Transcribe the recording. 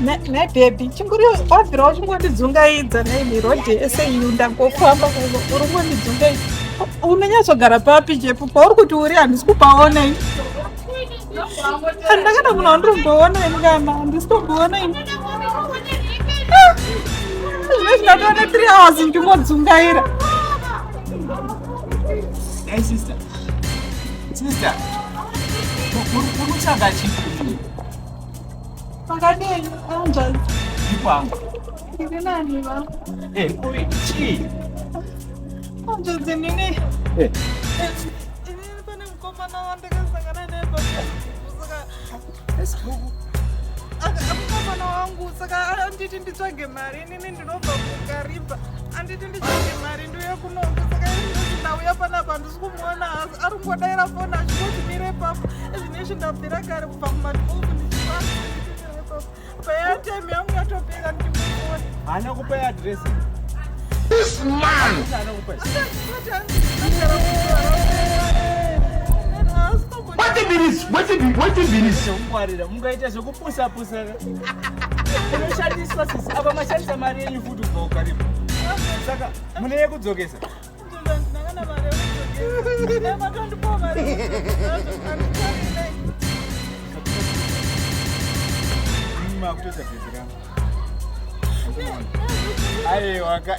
nebhebhi chinguri wabvira uchingondidzungaidza nei rodhi ese yu ndangofamba uri kungondidzungaidza unonyatsogara papi jepu pauri kuti uri handisi kupaona ini handakada munhu wandiromboona ini kana handisi tomboona ini ah! zvine zvinatoona three hours ndingodzungaira sister sister unotsvaga chii Makadini anjani? Ndikwangu. Ndiri nani va? Eh, kuri chii? Anjadzi nini? Eh. Eh, ini pane mukomana wandakasangana naye pamusaka. Esibuku. Mukomana wangu saka anditi nditsvage mari. Ini ndinobva kuKariba anditi ndichiti mari ndiuye kunoku saka ini ndauya panapa handisi kumuona asi ari kungodaira foni achingoti mire papo ezvine izvi ndabvira kare kubva kumadikoku ndichiaamire papo paya time yangu yatopera ndichimuona haana kupa adresi This man! What a minute! What a minute! What a minute! Mungaita zvekupusa pusa. Unoshandiswa sisi, apa mashandisa mari yenyu futi kubva ukaripa. Saka mune yekudzokesa. Makutoita bhezi rangu. Aiwa ka.